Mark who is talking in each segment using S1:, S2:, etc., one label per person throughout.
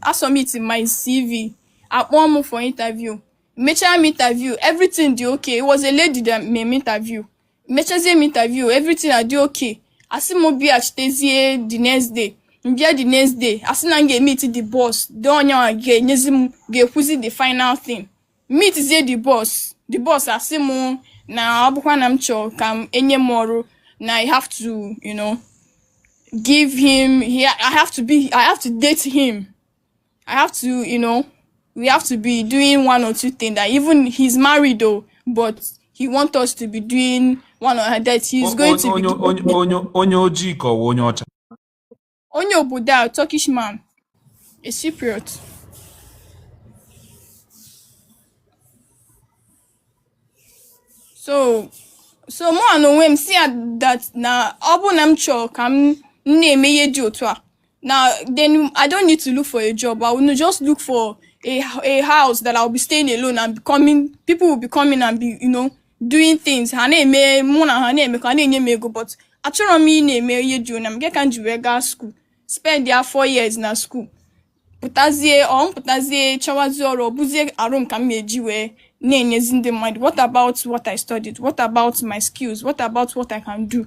S1: asubmit my cv a kpọọ m for interview mechaa m interview everything dị okay it was a lady that made me interview mechazie m interview everything adị okay a sị m bịachitezie the next day m bịa the next day a sị na m ga-emeet the boss the onye ga-enyezi m ga-ekwuzi the final thing meetizie the boss the boss asị m na ọ bụkwa na m chọọ ka m enye m ọrụ na i have to you know give him he, i have to be i have to date him i have to you know we have to be doing one or two things that even he's married though but he want us to be doing one or that he's going to be onye ojii ka ọ wụ onye ọcha Onye obodo a Turkish man, a Cypriot. So so mụwa n'onwe m sị ya that na ọ bụ na m chọrọ ka m na-eme ihe dị otu a na then I don't need to look for a job I will just look for a, a house that I'll be staying alone and becoming people will be coming and be you know doing things ha na-eme mụ na ha na-emekọ ha na-enye m ego but achọrọ m ịna-eme ihe dị onye m nke ka m ji wee gaa skuul spendịa four years na skuul pụtazie ọ m pụtazie chọwazie ọrụ ọ bụzie arụ m ka m na-eji wee na-enyezi ndị mmadụ what about what I studied what about my skills what about what I can do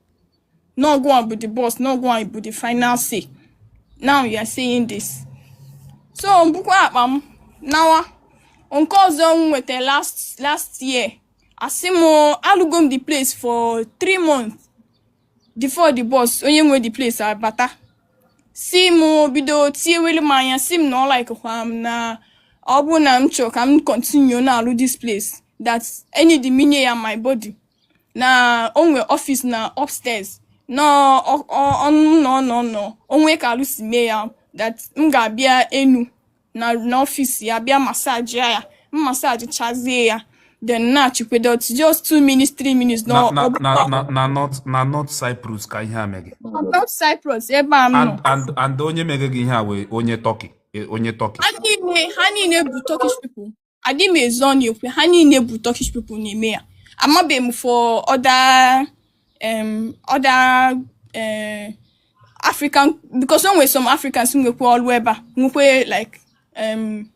S1: Na ọ gị bụ the boss, na ọ gị bụ the final say. Now you are saying this. So m bukwa akpa m nawa nke ọzọ m nweta last last year asị m alụgo m the place for three months before the boss onye nwe the place abata sị m bido tinyewere m anya sị m na ọ likekwa m na ọ bụ na m chọrọ ka m continue na-alụ this place that any day m nye ya my body na o nwe ọfịs na upstairs na ọ nọ na ọ nọ na o nwe ka alụ si eme ya that m ga-abịa enu na n'ọfịs ya bịa massage ya m massagechazie ya then na-achịkwedo just two minutes three minutes na
S2: na north cyprus ka ihe a me gị north
S1: cyprus ebe a m nọ and onye mere
S2: gị ihe a wụ onye turkey onye turkey
S1: ha niile bụ turkish people adị m ezo ọnụ ekwu ha niile bụ Turkish people na-eme ya amabe m for other um, other uh, African because o nwere some Africans nwekwa ọlụ ebe a nwekwa like um,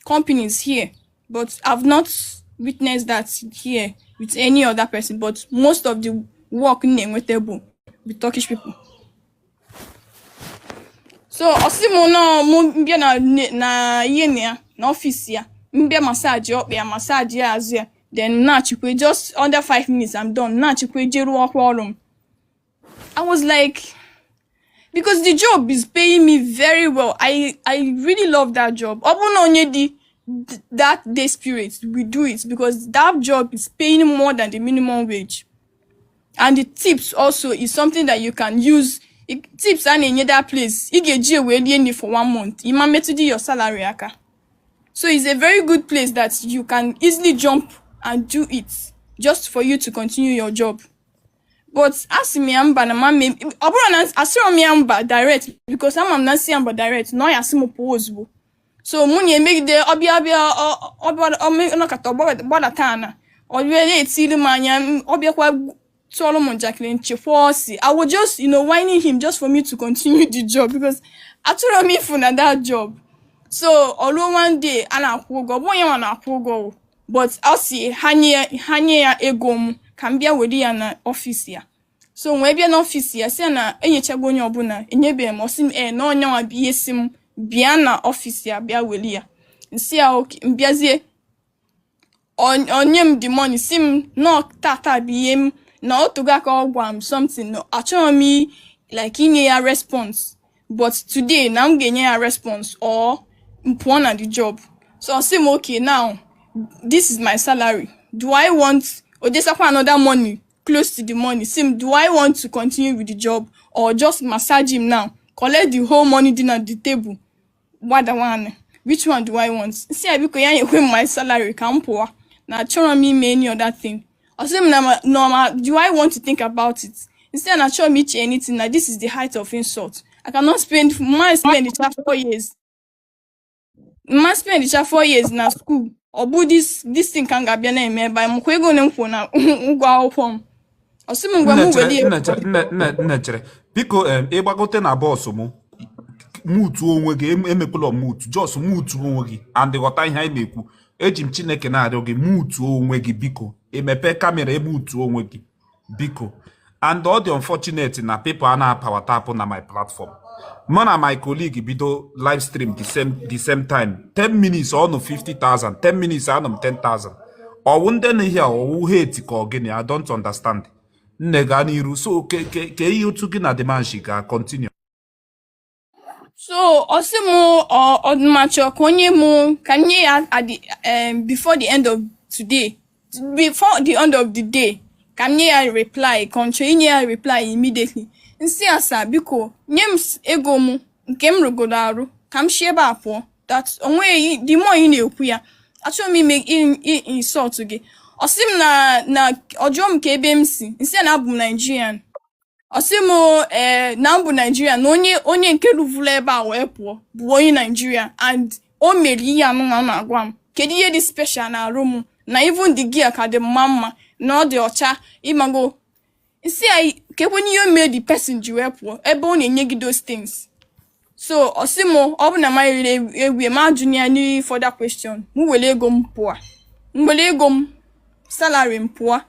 S1: companies here but I've not witnessed that here with any other person but most of the work m na-enweta bụ with Turkish people so ọ sị m nọọ mụ mbịa na ne- na ihe na ya na ọfịs ya mbịa masaji ọkpa ya masaji ya azụ ya then m nachikwa just under five minutes I'm done m nachikwa jee rụọkwa ọrụ m I was like because the job is paying me very well I I really love that job ọ bụrụ na onye dị th- that desperate will do it because that job is paying more than the minimum wage and the tips also is something that you can use tips a na-enye that place ị ga-eji ewee rie nri for one month ị ma metụdị your salary aka so it's a very good place that you can easily jump and do it just for you to continue your job but asị m ya mba na m ma eme ọ bụrụ na asịrọ m ya mba direct because ama m na nsị ya mba direct na ọ ya asị m pụọ ozugbo so mụ na emegide ọ bịa ọ bịa ọ nọkata gbadata ana ọ bịa na-etiri m anya ọ bịakwa tụọrọ m njakịrị nchekwa ọsị i was just you know whining him just for me to continue the job because achọrọ m ifu na that job so o ruo one day a na-akwụ ụgwọ ọ bụghị ya nwa na-akwụ ụgwọ but ọ sị ha nye ya ego m ka m bịa were ya na ọfịs ya so wee bịa n'ọfịs ya sị ya na enyechago onye ọbụla enyebeghị m ọ sị m ee na ọ ya nwa bụ ihe sị m bịa na ọfịs ya bịa weli ya nsị ya okay mbịazie o nye m the money sị m na ọ tata bụ ihe m na o tego aka ọ gwa m something na achọghị m like inye ya response but today na m ga-enye ya response or m pụọ na the job so ọ sị m okay now this is my salary do i want ọ dosakwa another money close to the money si m do i want to continue with the job or just massage him now collect the whole money dị na the table gbada nwanne which one do i want si ya biko ya nyekwe m my salary ka m pụwa na achọrọ m ime any other thing ọ sị m na ma- na ma do i want to think about it nsi ya na achọrọ m iche anything na this is the height of insult i cannot spend my spend it for four years mma spend cha four years na school ọ bụ this this thing ka m ga-abịa na-eme ebe a ị makwa ego ole m kwụọ na ụgwọ akwụkwọ m ọ sị m ngwa m weli ego nne chere
S2: biko em, ị gbagote na box m mutu onwe gị em- emekwala mutu just mutu onwe gị and ghọta ihe anyị na-ekwu eji m chineke na-arịọ gị mutu onwe gị biko i mepe camera i mutu onwe gị biko and ọ dị unfortunate na people a na-a power tap na my platform mụ na my colleague bido live stream the same the same time 10 minutes ọ nọ 50,000 10 minutes anọ m 10,000 ọ wụ ndị na ihe ọ wụ hate ka ọ gịnị I don't understand nne gaa n'iru so ke ke ke ihe otu gị na the man shi gaa continue
S1: so ọ sị m ọdụmachọ ka o nye mụ ka m nye ya at the um, before the end of today before the end of the day ka m nye ya reply ka m chọọ inye ya reply immediately nsị ya sir biko nye m s- ego m nke m rụgodo arụ ka m si ebe a pụọ that onweghị the more ị na-ekwu ya achọghị m ime i- i- insult gị ọ sị m na na ọ jụọ m kee ebe m si nsị ya na abụ m Nigerian ọ sị m ee na m bụ naijiria na onye onye nke rụvụrụ ebe a wee pụọ bụ onye naijiria and o mere ihe anụnwa ọ na-agwa m kedu ihe dị special na arụ m na even the girl ka dị mma mana ọ dị ọcha ịmago si ya kekwanụ ihe o mere the person ji wee pụọ ebe ọ na-enye gị those things so ọ sị m ọ bụ na manyere ewie ma ajụ ya any further question m were ego m pụọ m were ego m salary m pụọ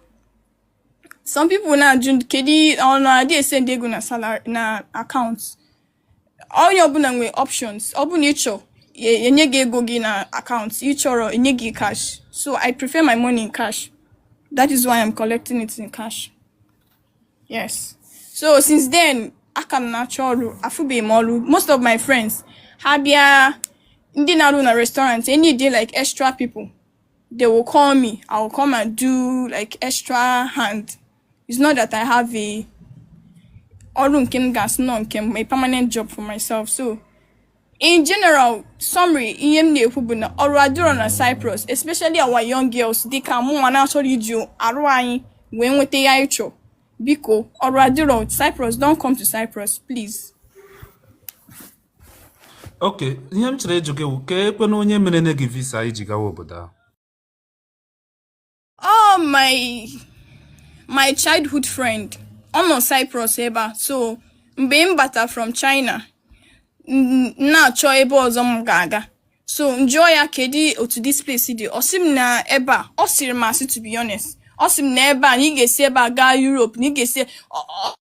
S1: some people na-ajụ kedu ọ na-adị esend ego na salary na account onye ọbụla nwere options ọ bụ na ị chọọ e nye gị ego gị na account ị chọrọ e nye gị cash so i prefer my money in cash that is why i'm collecting it in cash yes so since then a ka m na-achọ ọrụ afụbeghị m ọrụ most of my friends ha bịa ndị na-arụ na restaurant need like extra people they will call me. I will come and do like extra hand. It's not that I have a ọrụ nke m ga-asị na ọ nke m a permanent job for myself so in general summary ihe m na-ekwu bụ na ọrụ adịrọ na Cyprus especially our young girls dịka mụ nwa na-achọrọ iji arụ anyị wee nweta ihe anyị chọ biko ọrụ adịrọ Cyprus don't come to Cyprus please.
S2: ok ihe m chọrọ ịjụ gị wụ kekwanụ onye merenụ gị visa i ji gawa obodo ahụ
S1: oh my my childhood friend ọ nọ Cyprus ebe a so mgbe m bata from China na-achọ ebe ọzọ m ga-aga so njụọ ya kedị otu this place dị ọ sị m na ebe a ọ sịrị m asị to be honest ọ sị m na ebe a na ị ga-esi ebe a gaa Europe na ị ga-esi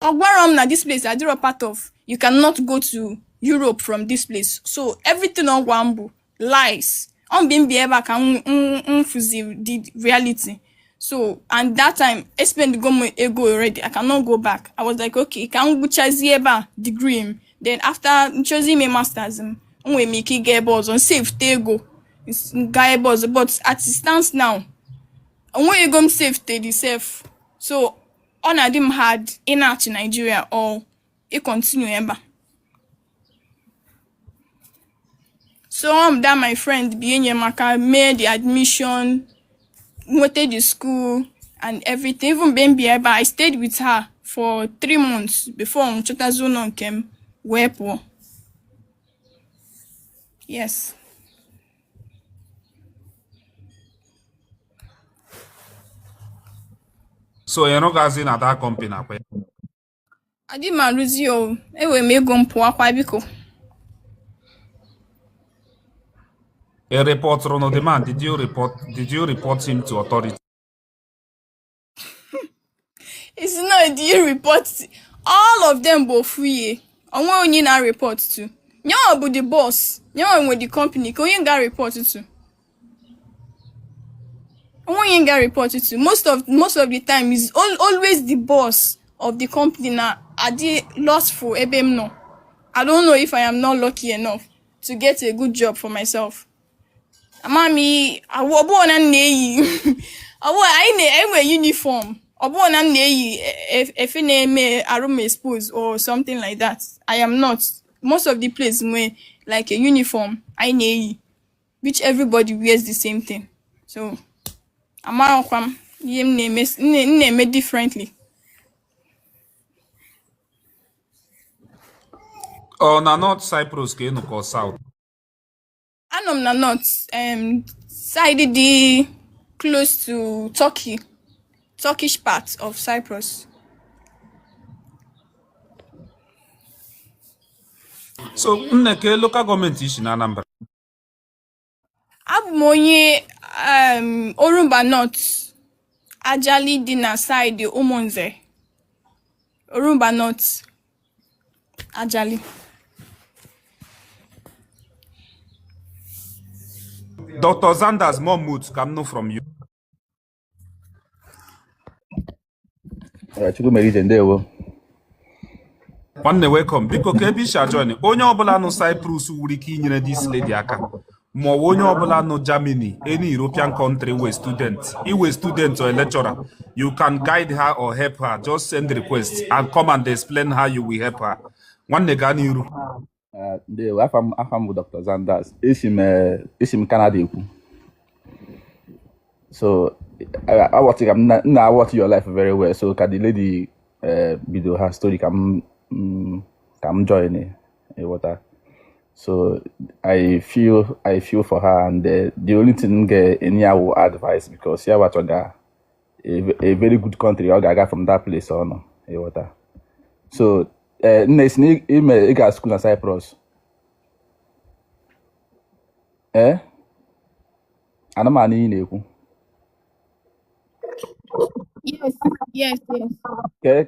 S1: ọ gwarọ m na this place adịrọ part of you cannot go to Europe from this place so everything ọ gwa m bụ lies ọ mgbe m bịa ebe a ka m fụzi the reality so and that time espendgo m ego already I cannot go back I was like okay ka m gwụchazie ebe a degree m then after m chọzie ime masters m enwere m ike ịga ebe ọzọ m savete ego gaa ebe ọzọ but as it stands now o nwerọ ego m savete dị sef so ọ na-adị m hard ịnachi Nigeria or ị continue ebe a so ọ that my friend bịa nye m aka mee the admission nweta the school and everything even mgbe m bịa ebe a i stayed with her for three months before m chọtazi ụlọ nke m wee pụọ
S2: yes so ịrụgazi na that company ọ kwa ya
S1: Adị m arụzi o, enwere m ego m pụakwa
S2: biko. Ị rịpọtụrụ the man, did you report, did you report him to authority?
S1: Ị sị na do you report all of them bụ ofu ihe, onwe onye na report to. Nyawa bụ the boss, nyawa nwe the company, ka onye m ga report to. onweghị onye m ga report to most of most of the time is al- always the boss of the company na adị lustful ebe m nọ i don't know if i am not lucky enough to get a good job for myself ama m ihe ọ wụ ọbụghị na m na-eyi ọbụghị anyị na anyị nwere uniform ọbụghị na m na-eyi e- e- efe na-eme arụ m expose or something like that i am not most of the place nwee like a uniform anyị na-eyi which everybody wears the same thing so amaghịkwa m ihe m na-eme m na-eme
S2: differently ọ na North Cyprus ka ị nọ ka ọ South
S1: anọ m na North um, side dị close to Turkey Turkish part of
S2: Cyprus so nne kee local gọọmenti i si na Anambra
S1: abụ m onye um, Orumba North Ajali dị na side Ụmụnze Orumba North
S2: Ajali Dr. Zanders, unmute ka m nụ from you.
S3: Chukwumerije
S2: ndewo nwanne welcome biko kee ebe i si ajoin onye ọbụla nọ Cyprus nwere ike inyere this lady aka maọbụ onye ọbụla nọ Germany any European country wụ student ị wụ student or lecturer you can guide her or help her just send request and come and explain how you will help her nwanne gaa n'iru Eh,
S3: ndewo afa m afa m bụ dr zanders esi m eh, esi m canada ekwu so eh, awọtị ka m na- m na-awatch your live very well so ka the lady eh, bido her story ka m mm, ka m join eh, ịghọta so i feel i feel for her and eh, the only thing m ga-enye ya wụ advice because ya wachọga a very good country ọ ga-aga from that place ọ nọ ịghọta so eh, nne ị sị na ị ga school na Cyprus ee eh? ana m anụ ihe ị na-ekwu yes yes yes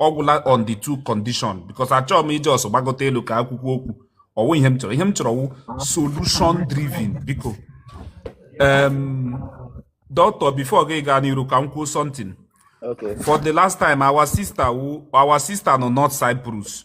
S2: ọgwụla on the two condition because achọghị m ije ọsọ gbagota elu ka akwụkwọ okwu ọwụ ihe m chọrọ ihe m chọrọ wụ solution driven biko um, doctor before gị gaa n'iru ka m kwuo something Okay. for
S3: the last time
S2: our sister wụ our sister nọ north cyprus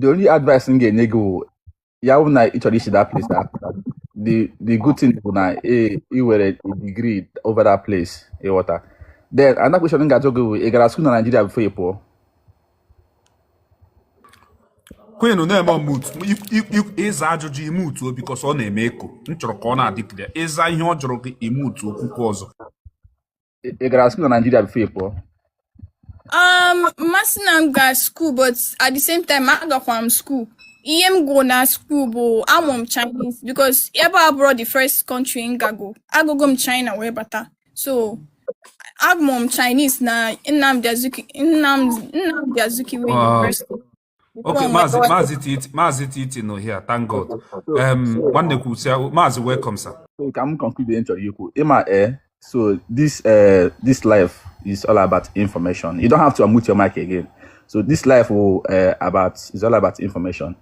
S3: the only advice m ga-enye gị wụ ya wụ na ị chọrọ isi that place that the the good thing bụ na e ị were a degree over that place ị ghọta then another question m ga-ajụ gị wụ ị gara school na Nigeria before ị
S2: pụọ Queen na-eme unmute ị zaa ajụjụ i mutuo because ọ na-eme echo m chọrọ ka ọ na-adị clear ị zaa ihe ọ jụrụ gị i mutuo o kwukwe ọzọ
S3: ị gara school na Nigeria before ị pụọ um m ma
S1: asị na m ga school but at the same time agakwa m school ihe m gụ na school bụ amụ m Chinese because ebe a abụrọ the first country m gago agago m China wee bata so amụ m Chinese na Nnamdi Azikiwe Nnamdi Azikiwe University Okay,
S2: From Mazi, Lagos. Mazi Titi, Mazi Titi nọ here. Thank God. Okay, so Um, so nwanne kwuru sị, Mazi welcome sir. so ka m conclude ihe m
S3: chọrọ ikwu ịma eh so this eh this life is all about information you don't have to unmute your mic again so this life will eh about is all about information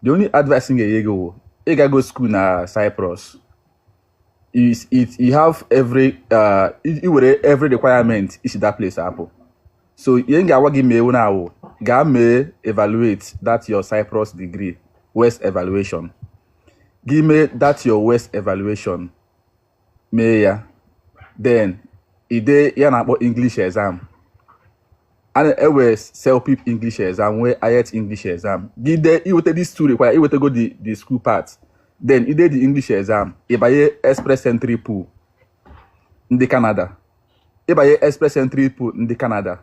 S3: the only advice m ga-enye gị wụ ị gago school na Cyprus is it you have every uh, i were every requirement isi that place apụ so ihe m ga-agwa gị mee now wụ gaa mee evaluate that your Cyprus degree WES evaluation gị mee that your WES evaluation mee ya then i dee ihe a na-akpọ English exam ewere selpip english exam nwee iet english exam gị dee iweta dis two require iwetago the the school part then ide the english exam ịbanye express entry pool ndị canada ịbanye express entry pool ndị canada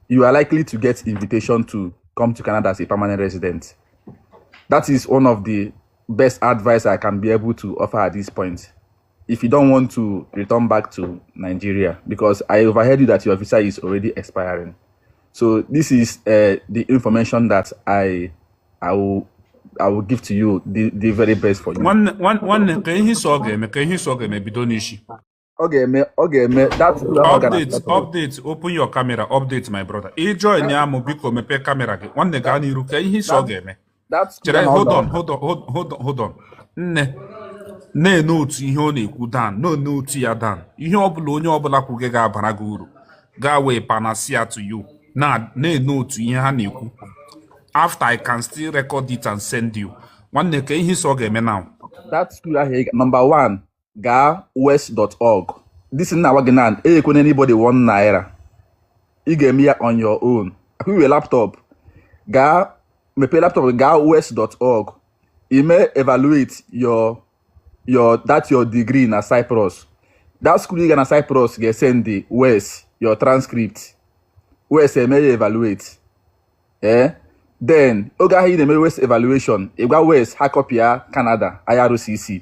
S3: you are likely to get invitation to come to canada as a permanent resident that is one of the best advice i can be able to offer at this point if you don't want to return back to Nigeria, because I overheard you that your visa is already expiring. So this is uh, the information that I I will I will give to you the, the very best for you. Nwanne ka
S2: ihe so ọ ga-eme ka ihe so ọ ga-eme bido n'isi. Ọ
S3: ga-eme ọ ga-eme that update
S2: update open your camera update my brother. Ị joinia mụ biko mepee camera gị nwanne gaa n'iru ka ihe so ọ ga-eme. chere hold on hold on hold on hold on nne na-enote ihe ọ na-ekwu down na-enote ya down ihe ọbụla onye ọbụla kwuge ga-abara gị uru ga-awụ a panacea to you na-enote ihe ha na-ekwu after i can still record it and send you nwanne ka ihe so ọ ga-eme now that school ahụ
S3: number one gaa wes.org this thing m na-agwa gị now enyekwene anybody one naira ị ga-eme ya on your own ọkwa i nwe laptop gaa mepee laptop gaa wes.org i mee evaluate your your that your degree na Cyprus that school ị ga na Cyprus ga-esendi WES your transcript WES emee ya evaluate eh then oge ahụ ị na-eme WES evaluation ị gwa WES ha kọpịa Canada IRCC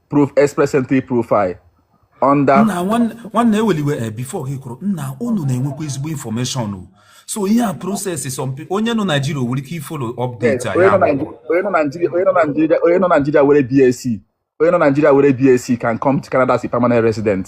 S3: create express entry profile under nna nwanne
S2: nwanne ewela iwe eh, before gị kwuru nna unu na-enwekwa ezigbo information o so ihe a process some people onye nọ Naijiria o nwere ike ifolo yes update a onye ya nọ bụ Naij- onye nọ Nigeria onye nọ
S3: Nigeria onye nọ Nigeria nwere BSc onye nọ Nigeria nwere BSc can come to Canada as a permanent resident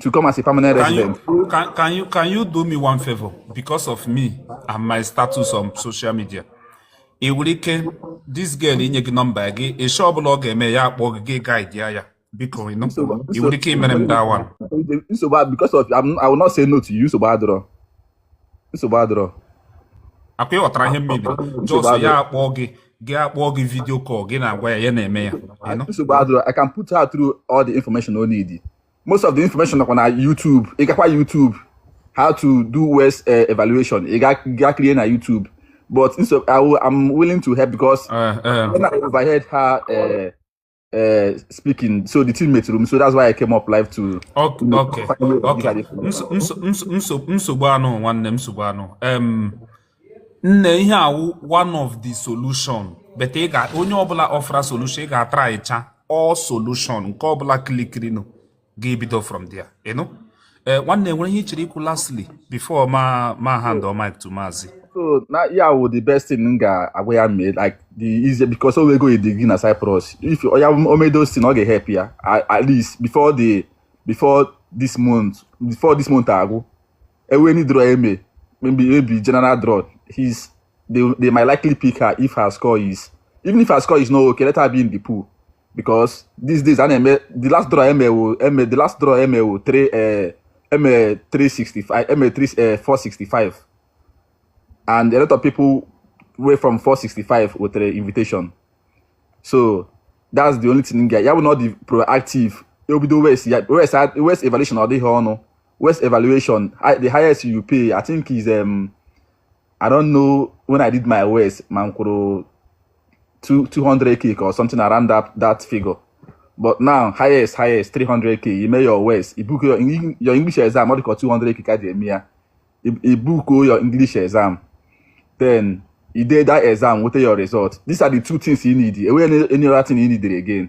S3: to come as a permanent resident. You, can, can, you, can
S2: you do me one favor because of me and my status on social media? ị nwere ike this girl inye gị nọmba gị issue ọbụla ọ ga-eme ya akpọ gị gị guide ya biko ị nwere ike imere
S3: m that
S2: one nsogbu because
S3: of I will not say no to you nsogbu adịrọ nsogbu adịrọ
S2: akwa ị ghọtara ihe m mean just ya akpọọ gị gị akpọọ gị video call gị na-agwa ya ya na-eme ya nsogbu adịrọ I can put
S3: her through all the information o need most of the information nọkwa na YouTube ị gakwa YouTube how to do WES uh, evaluation ị ga kirie na YouTube but so I will, I'm willing to help because uh, uh, when I overheard her uh, uh, speaking. So the thing metụrụ m. So that's why I came up live to. Okay. You know,
S2: okay. okay. Nsogbu anụ nwanne nsogbu anụ. Um, nne ihe a wụ one of the solution but ị ga onye ọbụla offer solution ị ga-atraịcha all solution nke ọbụla klikirinụ gị bido from there ị nụ ee eh, nwanne e nwere ihe ị chọrọ ikwu lastly before ma ma hand over mic to maazị so na ya wụ
S3: the best thing m ga-agwa ya mee like the easy because o nwego degree na Cyprus if ya emee those things ọ ga-ehelp ya at least before the before this month before this month agwụ e nwee any draw e mee maybe maybe general draw his they, they might likely pick her if her score is even if her score is not okay let her be in the pool because these days and eme the last draw eme wo eme the last draw eme wo three uh, eme three sixty five eme three uh, four sixty five and a lot of people wey from four sixty five with the invitation so that's the only thing guy ya bụ na ọ dị proactive obido west ya west west evaluation ọ dịghị ọnụ west evaluation the highest you pay i think is um, I don't know when I did my ways ma m kwuru 200 kick or something around that, that figure but now highest highest 300 k you make your ways you book your, your English exam ọ dịka 200 k ka ji eme ya you book your English exam then you did that exam with your result these are the two things you need enweghị any other thing you need again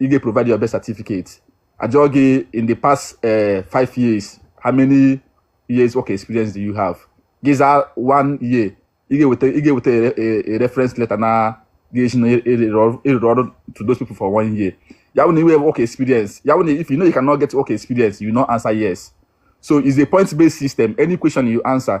S3: ị ga-eprovide your birth certificate a jụọ gị in the past eh, five years how many years work experience do you have gị zaa one year ị ga-eweta ị ga-eweta a- a- a reference letter na-egosi na ị rụrụ ọrụ to those people for one year ya bụ na i nwere work experience ya bụ na if you know you cannot get work experience you will not answer yes so it's a point based system any question you answer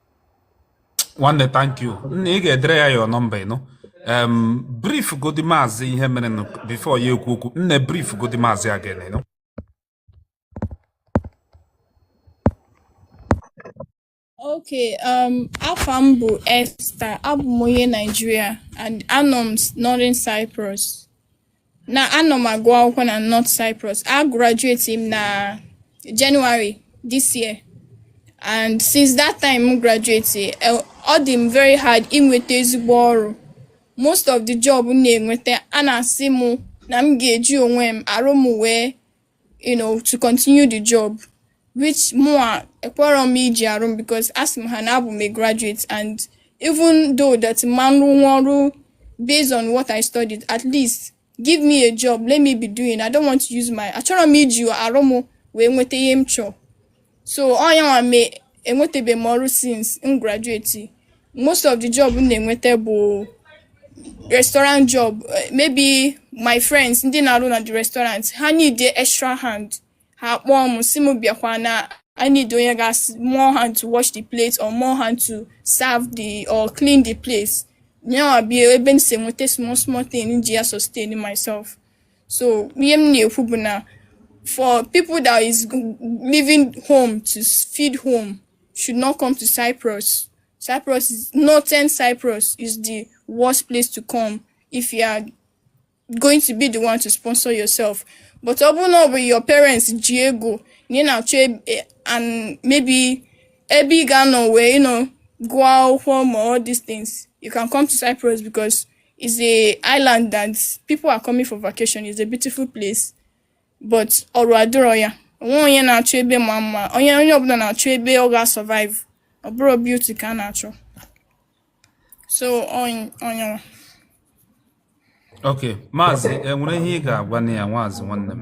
S2: nwanne thank you nna ị ga-edere ya your nọmba ị nụ em brief godi maazị ihe mere nụ before ya ekwu okwu nne brief godi maazị again ị nụ
S1: Okay, um, afa m bụ Esther, abụ m onye Nigeria and anọ m Northern Cyprus. na anọ m agụ akwụkwọ na North Cyprus a graduate m na January this year and since that time m graduate eh, ọ dị m very hard inweta ezigbo ọrụ most of the job m na-enweta a na-asị m na m ga-eji onwe m arụ m wee you know to continue the job which mụwa ekwerọ m iji arụ m because asị m ha na abụ m a graduate and even though that m ma-arụnwu ọrụ based on what I studied at least give me a job let me be doing I don't want to use my achọrọ m iji arụ m wee nweta ihe m chọọ so onye nwe m enwetabe m ọrụ since m graduate most of the job m na-enweta bụ restaurant job eh, maybe my friends ndị na-arụ na the restaurant ha need extra hand ha kpọọ m sị m bịakwa na I need onye ga more hand to wash the plate or more hand to serve or clean the place yanwa bụ ebe m si enweta small small thing m ji ya sustain myself so ihe m na-ekwu bụ na for people that is leaving home to feed home should not come to Cyprus Cyprus is northern Cyprus is the worst place to come if you are going to be the one to sponsor yourself but ọ bụrụ na ọ bụ your parents ji ego na ị na-achọ e, and maybe ebe ị ga-anọ wee you know gụọ akwụkwọ or all these things you can come to Cyprus because It's a island that people are coming for vacation. It's a beautiful place. But ọrụ adịrọ ya. O nwerọ onye na-achọ ebe ma mma. Onye onye ọbụla na-achọ ebe ọ ga-survive. Ọ bụrọ beauty ka a na-achọ. So
S2: onye Okay, maazị enwere ihe ị ga-agwanụ ya nwaazị nwanne m.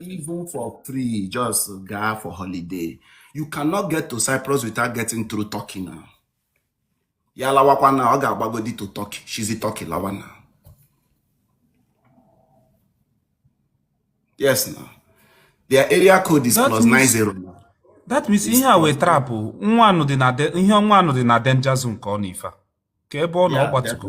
S2: even for
S4: free just gaa for holiday you cannot get to cyprus without getting through turkey now ya lawakwa na ọ ga-agbagodi to turkey shizi turkey lawa na yes na their area code is plus 90 now that means ihe a
S2: wee trapụ nwa anụ dị na ihe ọnwa anụ dị na danger zone ka ọ na ife ka ebe ọ na ọ gbatugo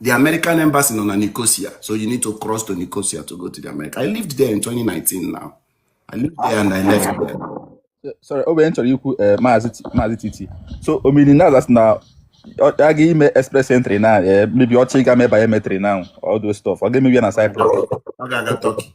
S4: The American embassy nọ na Nicosia, so you need to cross to Nicosia to go to the America. I lived there in 2019 now. I lived there and I left there. So- sorry
S3: ihe m chọrọ ikwu eh, maazị T- maazị titi so ọ mean na a sị na ọ ga-eme express entry na eh, maybe ọ chọọ ịga mee biometric na all those stuff ọ ga-emeli ya na cyprus Ọ ga-aga Turkey.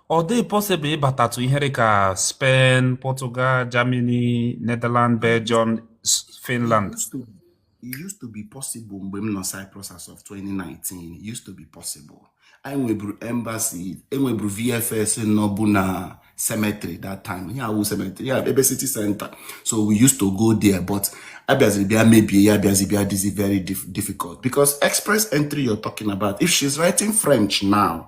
S2: ọ dị possible ịbatatụ ihe dị ka Spain, Portugal, Germany, Netherlands, Belgium, Finland. It
S4: used to be possible mgbe m nọ Cyprus as of 2019. It used to be possible. E nweburu embassy, enweburu VFS nọbụ na cemetery that time. Ihe a wụ cemetery, ya ebe city center. So we used to go there, but a bịaziri bịa mebie ya abịazi bịa dịzi very difficult because express entry you're talking about, if she's writing French now,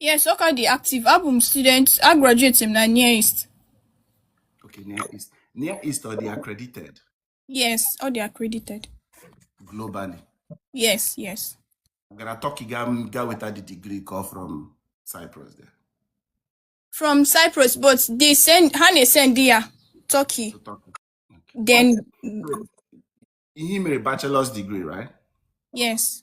S1: Yes, ọ ka dị active. Abụ m student, a graduate m na Near East.
S4: Okay, Near East. Near East ọ dị accredited Yes, ọ
S1: dị accredited. globally.
S4: Yes,
S1: yes. Ị gara Turkey
S4: ga ga weta the degree ka ọ from Cyprus there
S1: From Cyprus, but they send ha na-esend ya Turkey. to
S4: Turkey. Okay. Then I mere bachelor's degree, right? yes,